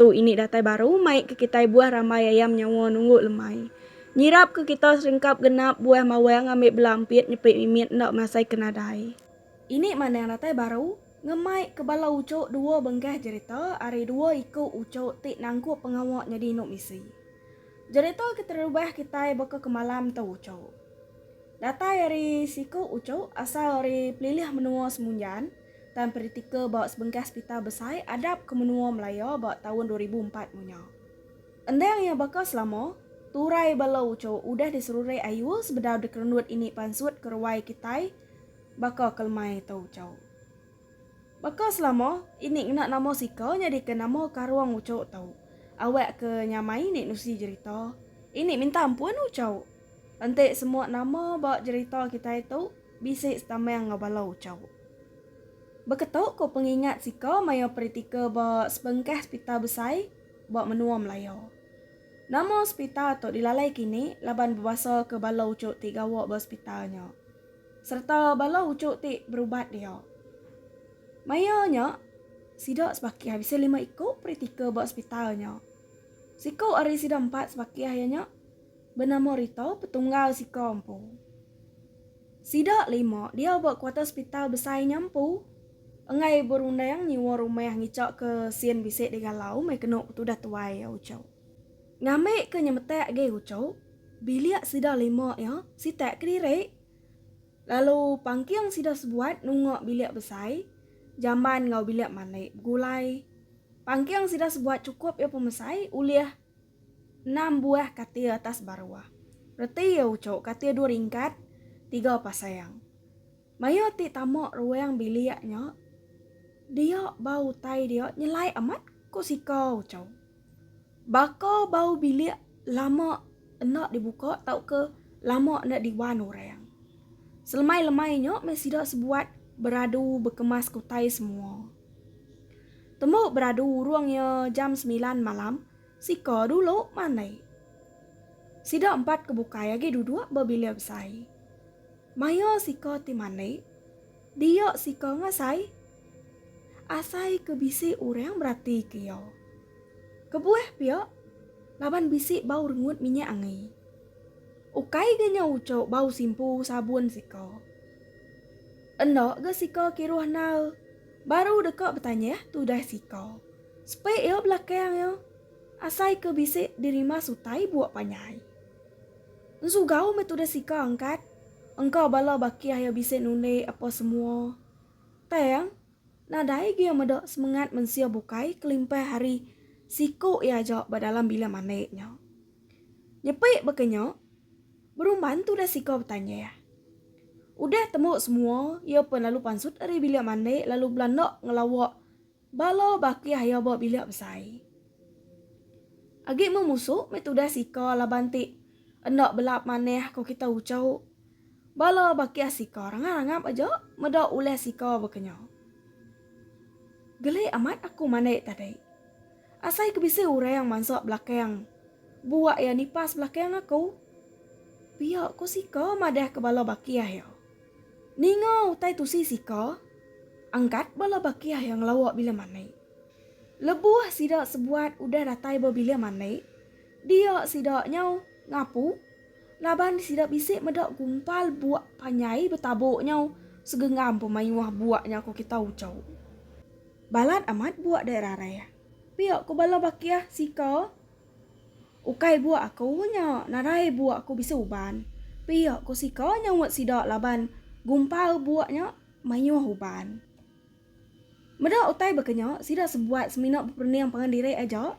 Tu ini datai baru mai ke kitai buah rambai ayam nyawa nunggu lemai. Nyirap ke kita seringkap genap buah mawang ambi bela ampit nyepi mimit enda masai ke nadai. Ini mandang datai baru ngemai ke bala uchu dua bengkah jerita ari dua iku uchu ti nangkup pengawa nyadi inu misi. Jerita ke terubah kitai baka ke malam tu uchu. Datai ari siku uchu asal ari pelilih menua Semunjan. Tan Peritika ba sebengkah sepital besai adap ke menua Malaya ba taun dua ribu empat mu nya. Endang iya baka selama, turai bala uchu udah diserurek ayu sebedau dikerenut ini pansut ke ruai kitai baka ke lemai tu uchu. Baka selama, ini ngena nama sika nyadika nama karung uchu tu, awak ke nyamai ini nusi jerita, ini minta ampun uchu. Enti semua nama ba jerita kitai tu, Bisi setamang enggau bala uchauk. Baka tu ku pengingat siko maya peritika ba sebengkah sepital besai ba menua Melaya. Nama sepital tu dilalai kini laban bebasaka bala uchauk ti gawa ba sepital nya sereta bala uchauk ti berubat dia. Maya nya, sida sebakih bisi lima iku peritika ba sepital nya. Siku ari sida empat sebakih iya nya benama Rito petunggal siko empu. Sida lima diau ba kuarter sepital besai nya empu enggai berundang nyewa rumah ngichakka sin bisi digalau meh kenu betudah tuai iya uchu. Ngambika nyemetak agi uchu, bilik sida lima iya sitak kediri lalu pangking sida sebuat nunga bilik besai jamban enggau bilik mandi begulai. Pangking sida sebuat chukup iya pemesai ulih. Enam buah katil atas baruh. Reti iya uchu katil dua ringkat, tiga pasang. Maya ti tama ruang bilik nya, dia ba utai dia nyelai amat ku sika uchu. Baka bau bilik lama enda dibuka tauka lama enda diwan orang. Selemai-lemai nya meh sida sebuat beradu bekemas ke utai semua. Tembu beradu urung iya jam semilan malam, siko dulu mandai. Sida empat ke bukai agi duduk ba bilik besai. Maya siko ti mandai, dia siko ngasai. Asai ke bisi urang beratika iya. Kebuah pia, laban bisi bau rengut minyak angi. Ukai ga nya uchu bau simpu sabun siko. Enda ga sika kiruh nal. Baru deka betanyah tudah sika. Sepek iya belakang iya. Asai ke bisi dirima sutai buak panyai. Ensugau meh tudah sika angkat. Engka bala bakih iya bisi nulik apa semua. Tang, nadai gi iya meda semengat mensia bukai kelimpah ari siku iya aja ba dalam bilik mandi nya. Nyepik baka nya. Berumban tu udah siko betanya iya. Udah tembu semua, iya pen lalu pansut ari bilik mandi lalu belanda ngelawa bala bakih iya ba bilik besai. Agi meh musu meh tu udah siko laban ti enda belap manah ko kita ucho. Bala bakih siko rangap-rangap aja meda ulih siko bekenyo. Geli amat aku mandi tadi. Asai ke bisi urang mansa belakang buak iya nipas belakang aku. Pia ko sika madah ke bala bakih iya. Ninga utai tusi sika, angkat bala bakih iya ngelawa bila mandi. Lebuh sida sebuat udah datai ba bilik mandi, dia sida nyau ngapu laban sida bisi meda gumpal buak panjai betabuk nyau segenggam pemaioh buak nya ko kita ucau. Balat amat buak dai rarai. Pia ku bala baki ah sika. Ukai buak aku nya narai buak ku bisi uban. Pia ku sika nyaup sida laban gumpal buak nya mayuh uban. Meda utai baka nya sida sebuat semina beperening pangan diri aja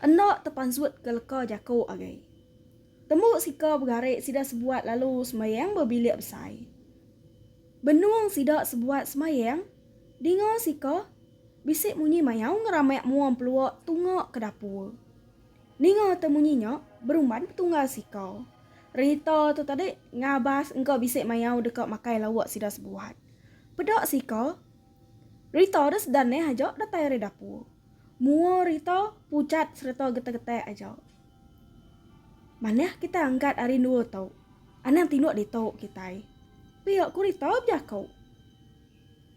enda tepansut ke leka jaku agi. Tembu sika begari sida sebuat lalu semayang ba bilik besai. Benung sida sebuat semayang. Dinga sika, bisi munyi mayau ngeramik mua empelua tunga ke dapur. Ninga te munyi nya, berumban petunggal sika. Rita tu tadi ngabas engka bisi mayau deka makai lauk sida sebuat. Peda sika, Rita deh sedanih aja datai ari dapur. Mua Rita pucat sereta getek-getek aja. Manah kitai angkat ari endua tu, anang tinduk ditu kitai. Pia ku Rita bejaku.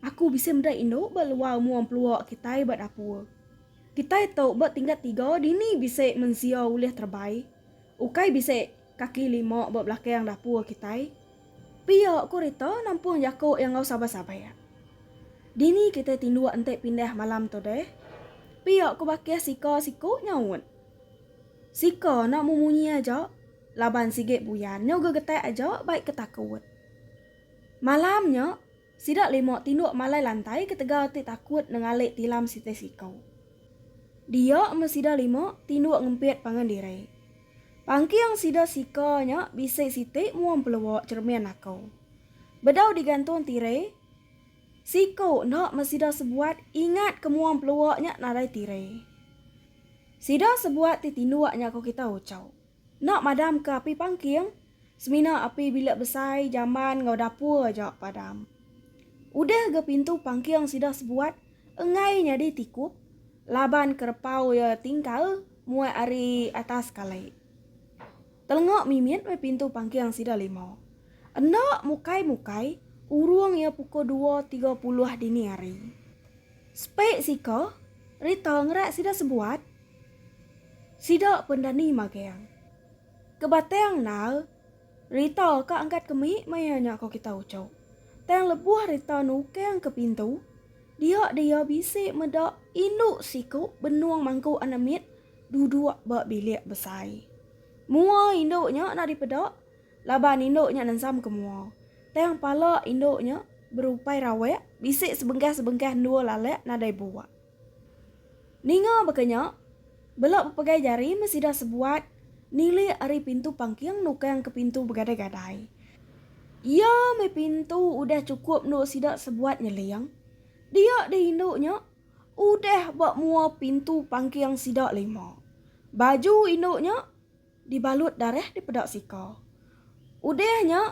Aku bisi meda indu ba luar mua empelua kitai ba dapur. Kitai tu ba tingkat tiga dini bisi mensia ulih terebai. Ukai bisi kaki lima ba belakang dapur kitai. Pia ku Rita nampung jaku iya enggau sabar-sabar. Dini kitai tinduk enti pindah malam tu deh? Pia ku Bakih sika siku nyaut. Sika enda memunyi aja laban sigi buyan nya gegetak aja bai ke takut. Malam nya, sida lima tinduk malai lantai ketegal ti takut nengalik tilam sitai siku. Dia meh sida lima tinduk ngempit pangan diri. Pangking sida sika nya bisi siti mua empelua cheremin aku. Bedau digantung tiri, siku enda meh sida sebuat ingat ke mua empelua nya nadai tiri. Sida sebuat ti tinduk nya ko kita uchu. Enda madam ke api pangking, semina api bilik besai, jamban enggau dapur aja padam. Udah ga pintu pangking sida sebuat enggai nyadi tikup laban kerepau iya tingkal muat ari atas kalai. Telenga mimit meh pintu pangking sida lima. Enda mukai-mukai urung iya pukul dua tiga puluh dini hari. Sepe sika, Rita ngerak sida sebuat. Sida pendani magang. Ke Batang nal, Rita ka angkat ke mit maya nya ko kita uchu. Tang lebuh Rita nukang ke pintu, dia dia bisi meda indu siku benung mangku anak mit duduk ba bilik besai. Mua indu nya enda dipeda laban indu nya nensam ke mua. Tang pala indu nya berupai rawak bisi sebengkah-sebengkah endur lalak nadai buak. Ninga baka nya, bela bepegai jari meh sida sebuat nilik ari pintu pangking nukang ke pintu begadai-gadai. Iya meh pintu udah chukup endu sida sebuat nyeling. Dia deh indu nya udah ba mua pintu pangking sida lima. Baju indu nya. dibalut darah dipeda sika. Udah nya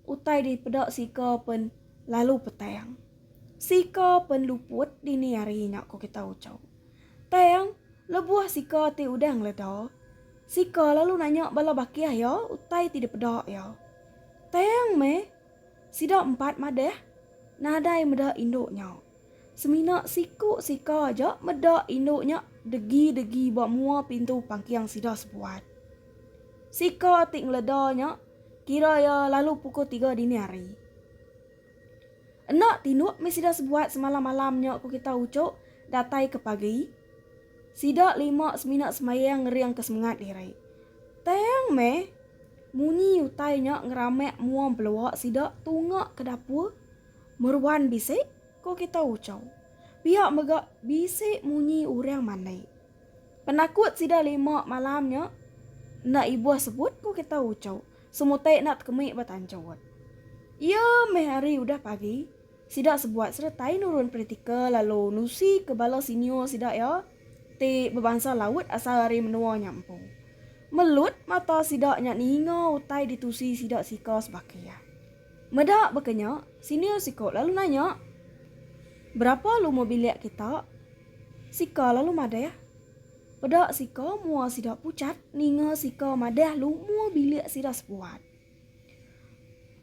utai dipeda sika pen lalu petang. Sika pen luput dini hari nya ko kita ucau. Tang lebuh sika ti udah ngeleda, sika lalu nanya bala bakih iya utai ti dipeda iya. Tang meh sida empat madah nadai meda indu nya. Semina siku sika aja meda indu nya degi-degi ba mua pintu pangking sida sebuat. Sika ti ngeleda nya kira iya lalu pukul tiga dini hari. Enda tinduk mih sida sebuat semalam-malam nya ku kita uchu datai ke pagi. Sida lima semina semayang ngeringka semengat diri. Tang meh munyi utai nya ngerambak mua belua sida tunga ke dapur. Meruan bisi ko kita ucau. Pia mega bisi munyi urang mandai. Penakut sida lima malam nya enda ibuh sebut ko kita ucau semutai enda tekemik ba tanjut. Ia meh ari udah pagi sida sebuat seretai nurun peritika lalu nusi ke bala senior sida ia ti bebansa Laut asal ari menua nya empu. Melut mata sida nya ninga utai ditusi sida sika sebaka ia. Meda baka nya, senior siko lalu nanya, Berapa luma bilik kita? Sika lalu madah, Peda sika mua sida pucat ninga sika madah luma bilik sida sepuat.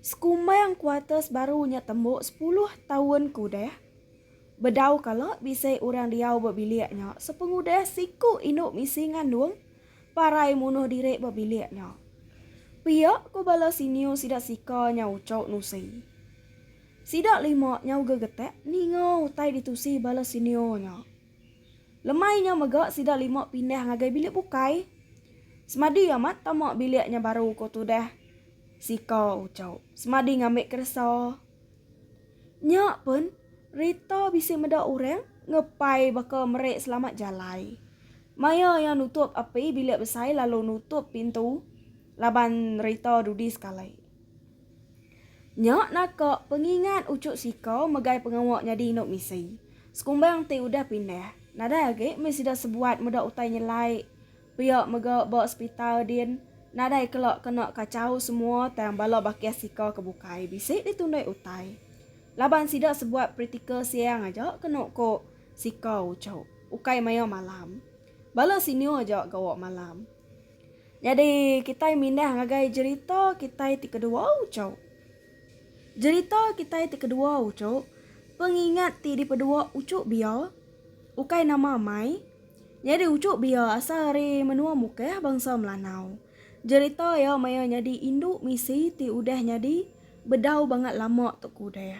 Sekumbang kuarters baru nya tembu sepuluh taun ke udah. Bedau kala bisi orang diau ba bilik nya sepengudah siku indu misi ngandung parai munuh diri ba bilik nya. Pia ku bala senior sida sika nyau uchok nusi. Sida lima nyau gegetak ninga utai ditusi bala senior nya. Lemai nya mega sida lima pindah ngagai bilik bukai. Semadi amat tama bilik nya baru ko tudah sika uchok semadi ngambi keresa. Nya pun, Rita bisi meda orang ngepai baka meri selamat jalai. Maya iya nutup api bilik besai lalu nutup pintu laban Rita dudi sekali. Nya naka pengingat uchu sika megai pengawa nyadi indu misi. Sekumbang ti udah pindah, nadai agi meh sida sebuat meda utai nyelai. Pia mega ba sepital din nadai kela kena kachau semua tang bala bakih sika ke bukai bisi ditundoi utai laban sida sebuat pritikal siang aja kenu ku sika uchu ukai maya malam bala senior aja gawa malam nyadi kitai mindah ngagai jerita kitai ti kedua uchu jerita kitai ti kedua uchu pengingat ti dipedua uchu bia ukai nama amai Nyadi uchu bia asal ari menua Mukah bangsa Melanau. Jerita iya maya nyadi indu misi ti udah nyadi bedau bangat lama tu ku deh.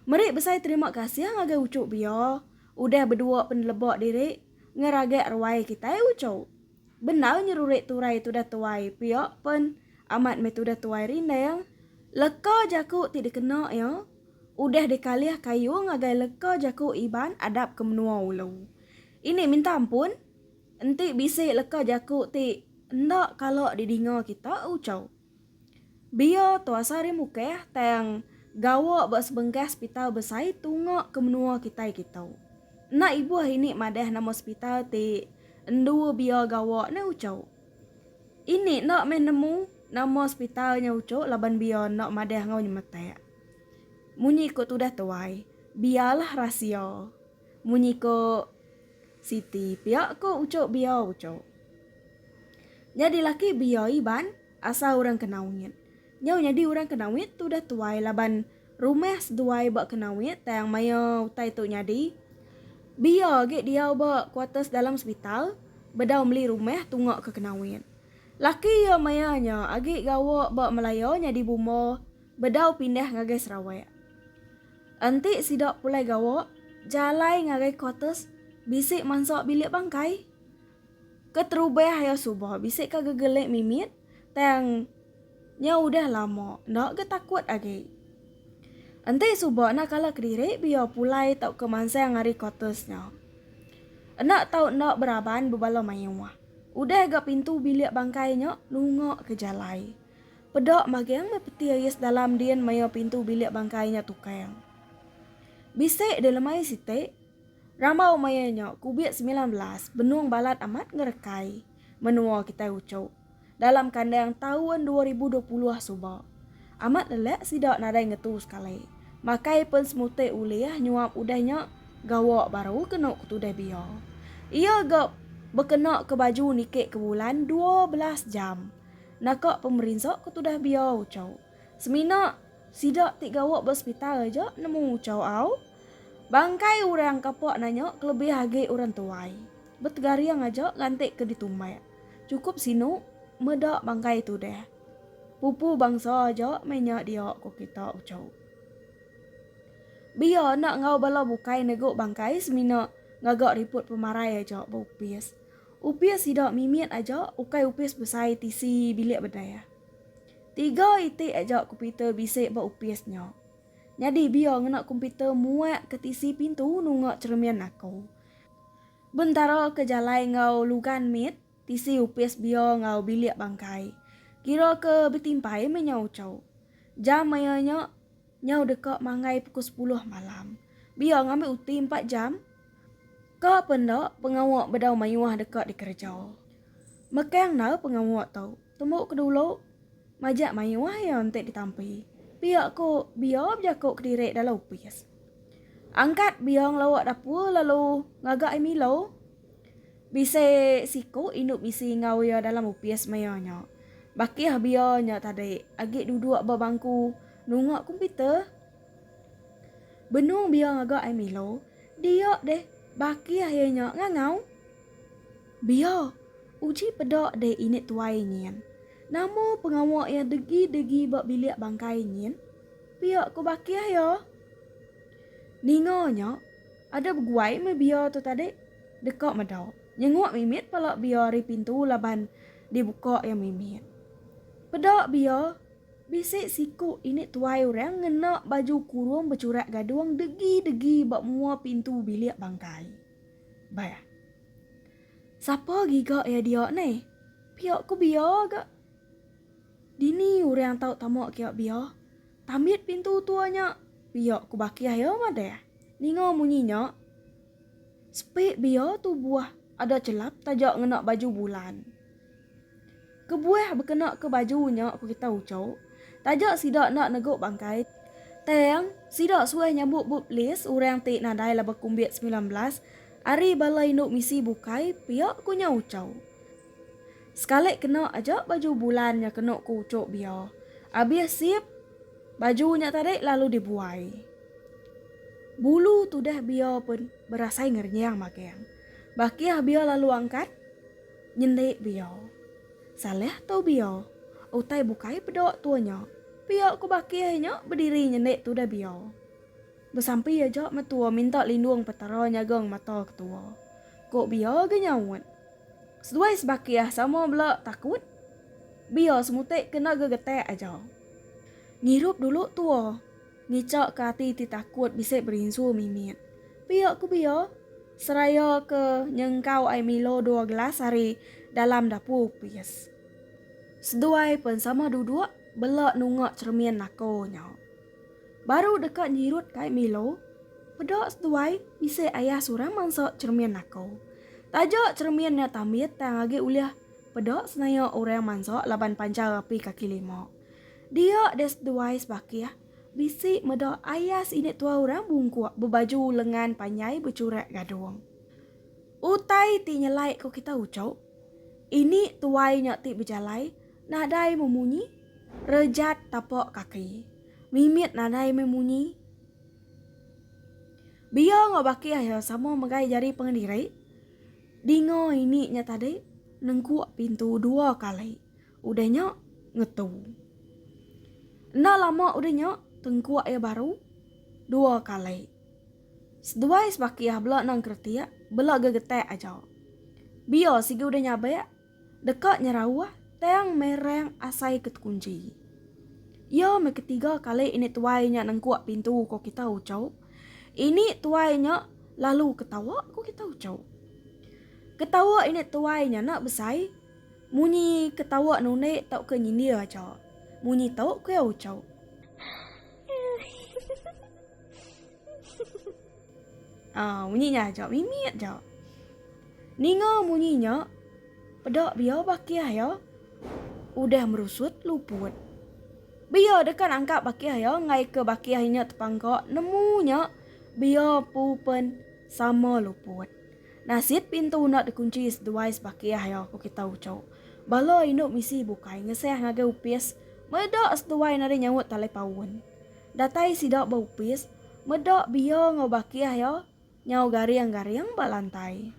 Meri besai terima kasih ngagai uchu bia udah bedua peneleba diri ngeragak ruai kitai uchu. Bendar nyerurik turai tudah tuai pia pen amat meh tudah tuai rindang leka jaku ti dikena iya. Udah dikalih kayu ngagai leka jaku Iban adap ke menua ulu. Ini minta ampun, enti bisi leka jaku ti enda kala didinga kita Uchau. Bia Tua Sari Mukeh tang gawa ba sebengkah sepital besai tunga ke menua kitai kitu. Enda ibuh ini madah nama sepital ti endu bia gawa ne Uchau. Ini enda meh nemu nama sepital nya uchu laban bia enda madah enggau nyemetak. Munyi ku tudah tuai, bialah rahsia. Munyi ku Siti pia ku uchu bia uchu. Nyadi laki bia Iban asal orang Kenawit. Nyau nyadi orang Kenawit tudah tuai laban. Rumah seduai ba Kenawit tang maya utai tu nyadi. Bia agi diau ba kuarters dalam sepital, bedau meli rumah tunga ke Kenawit. Laki iya maya nya agi gawa ba Malaya nyadi bumba bedau pindah ngagai Sarawak. Enti sida pulai gawa, jalai ngagai kuarters bisi mansa bilik bangkai. Keterubah iya suba bisi ka gegelik mimit. Tang nya udah lama enda ga takut agi. Enti suba enda kala kediri biar pulai tauka mansang ari quarters nya. Enda tau enda beraban bebala mayuh. Udah ga pintu bilik bangkai nya nunga ke jalai. Peda magang meh peti ais dalam din maya pintu bilik bangkai nya tukang. Bisi dilemai siti, rambau maya nya kubit semilan belas benung balat amat ngerekai. menua kitai uchup dalam kandang taun dua ribu dua puluh suba. Amat lelak sida nadai ngetu sekali, makai pen semutik ulih nyuap udah nya gawa baru kenu ke tudah bia. Iya ga bekena ke baju niki ke bulan dua belas jam naka pemerinsa ke tudah bia uchup. Semina sida ti gawa ba sepital aja nemu uchup au bangkai orang kapa nanya kelebih agi orang tuai. Betegaring aja lantik ke ditumbai. Chukup sinu meda bangkai tu deh. Pupu bangsa aja meh nya dia ko kita Uchau. Bia enda enggau bala bukai negu bangkai semina ngaga riput pemarai aja ba opis. Opis sida mimit aja ukai opis besai ti si bilik bedeh. Tiga iti aja komputer bisi ba opis nya. Nyadi bia ngena komputer muak ke ti si pintu nunga cheremin aku. Bentara ke jalai enggau Lugan mit, tisi opis bia enggau bilik bangkai. Kira ke betimpai meh nyau ucau. Jam maya nya, nyau deka manggai pukul sepuluh malam. Bia ngambi uti empat jam. Ka pe enda, pengawa bedau mayuh deka dikereja. Mekang endar pengawa tu. Tembu ke dulu, majak mayuh iya enti ditampi. Pia ku bia bejaku kediri dalam opis. Angkat biong lawa dapur lalu ngaga ai milo. Bisi siku indu bisi enggau iya dalam opis maya nya. Bakih bia nya tadi agi duduk ba bangku nunga komputer. Benung bia ngaga ai milo, dia deh bakih iya nya ngangau. Bia, uji peda deh ini tuai nyin. Nama pengawa iya degi-degi ba bilik bangkai nyin? Pia ku Bakih iya. Ninga nya, ada beguai meh bia tu tadi. Deka meda. Nyenguk mimit pala bia ari pintu laban dibuka iya mimit. Peda bia, bisi siku ini tuai orang ngena baju kurung bechurat gadung degi-degi ba mua pintu bilik bangkai. Beh. Sapa giga iya dia ni? Pia ku bia ga. Dini urang tau tamak kiak bia? Tambit pintu tua nya pia ku bakih iya madah. Ninga munyi nya, sepik bia tu buah ada chelap taja ngena baju bulan. Kebuah bekena ke baju nya ku kita ucho, taja sida enda nego bangkai, tang sida suah nyambut bup lis urang ti nadai laban kumbit semilan belas ari bala indu misi bukai pia ku nya ucho. Sekali kena aja baju bulan nya kena ku uchu bia. Abih sip baju nya tadi lalu dibuai. Bulu tudah bia pun berasai ngerenyang magang. Bakih bia lalu angkat nyendi bia. Salah tu bia. Utai bukai peda tua nya. Pia ku Bakih nya bediri nyendi tudah bia. Besampi aja metua minta lindung petara nyagang mata ketua. Ku bia ge nyaut. Seduai Sebakiah sama bela takut biar semutai kena gegetak aja. Ngirup dulu tua ngica ke ati ti takut bisi berinsu mimit pia ku Bia seraya ke nyengkau ai milo dua gelas ari dalam dapu opis. Seduai pen sama duduk bela nunga cheremin nako nya. Baru deka nyirut kai Milo, peda seduai bisi ayah seorang mansa cheremin naka. Taja cheremin nya tambit tang agi ulih peda senaya orang mansa laban panchar api kaki lima. Dia deh seduai sebakih bisi meda ayah seinik tua orang bungkuk bebaju lengan panjai bechurak gadung. Utai ti nyelai ko kita uchu, ini tuai nya ti bejalai nadai memunyi rejat tapa kaki. Mimit nadai meh munyi. Biau enggau baki ayo sama megai jari pengendiri. Dinga ini nya tadi nengkuk pintu dua kali udah nya ngetu. Enda lama udah nya tengkuk iya baru dua kali. Seduai sebaki iya bela nang keretik bela gegetak aja. Biau sigi udah nyabak. deka nyerauh tang merang asai ke tekunchi. Iya meh ketiga kali ini tuai nya nengkuk pintu ko kita ucau. Ini tuai nya lalu ketawa ko kita ucau. Ketawa ini tuai nya enda besai munyi ketawa nundi tauka nyindir aja munyi tu ko iya ucau. Ah, munyi nya aja mimit ja. Ninga munyi nya, peda bia bakih iya udah merusut luput. Bia deka nangkap bakih iya ngaika bakih inya tepangka nemu nya bia empu pen sama luput. Nasit pintu enda dikunchi seduai sebakih iya, ku kitai uchu. Bala indu misi bukai ngeseh ngagai opis meda seduai nadai nyaut talipaun. Datai sida ba opis, meda Bia enggau Bakih iya nyau garing-garing ba lantai.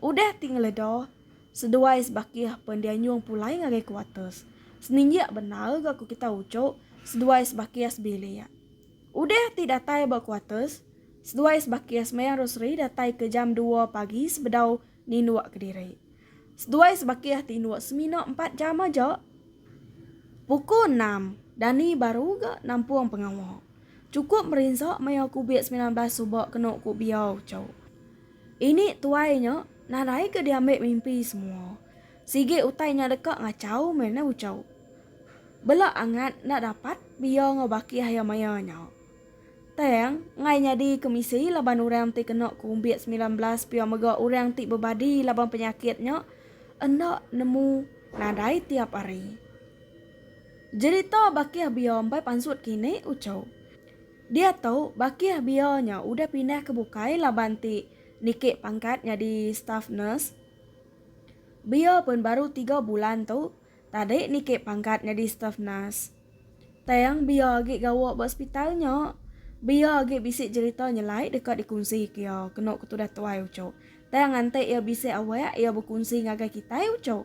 Udah ti ngeleda, seduai sebakih pen dianjung pulai ngagai kuarters. Seninjik bendar ga ku kita uchup seduai sebakih sebilik. Udah ti datai ba kuarters, seduai sebakih sembayang rosari datai ke jam dua pagi sebedau Ninduk kediri. Seduai sebakih ti induk semina empat jam aja. Puku enam, Dani baru ga nampung pengawa. Chukup merinsa maya kubik semilan belas suba kenu ku Biau cu. Ini tuai nya nadai ga diambi mimpi semua. Sigi utai nya deka ngachau meh uchu. Bela angat enda dapat Biau enggau bakih iya maya nya. Tang, ngai nyadi kemisi laban orang ti kena kumbit semilan belas pia mega orang ti bebadi laban penyakit nya enda nemu nadai tiap hari. Jerita Bakih Bia embai pansut kini uchu. Diatu, Bakih Bia nya udah pindah ke bukai laban ti niki pangkat nyadi staff nurse. Bia pun baru tiga bulan tu tadi niki pangkat nyadi staff nurse. Tang biar agi gawa ba sepital nya, biar agi bisi jerita nyelai deka dikungsika iya, kenu ke tudah tuai uchup. Tang nganti iya bisi awak iya bekunsi ngagai kitai uchup.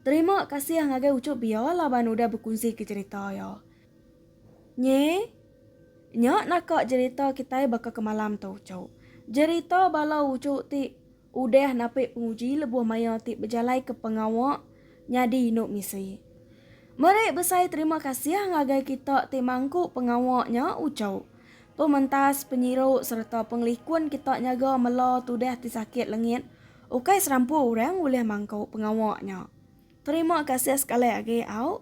Terima kasih ngagai uchup Bia laban udah bekunsika jerita iya. Nyi, nya naka jerita kitai baka ke malam tu uchup. Jerita bala uchup ti. Udah napi penguji lebuh maya ti bejalaika pengawa nyadi indu misi. Meri besai terima kasih ngagai kita ti mangku pengawa nya uchu. Pementas, penyiru sereta pengelikun kita nyaga mela tudah ti sakit lengit, ukai serampu orang ulih mangku pengawa nya. Terima kasih sekali agi au.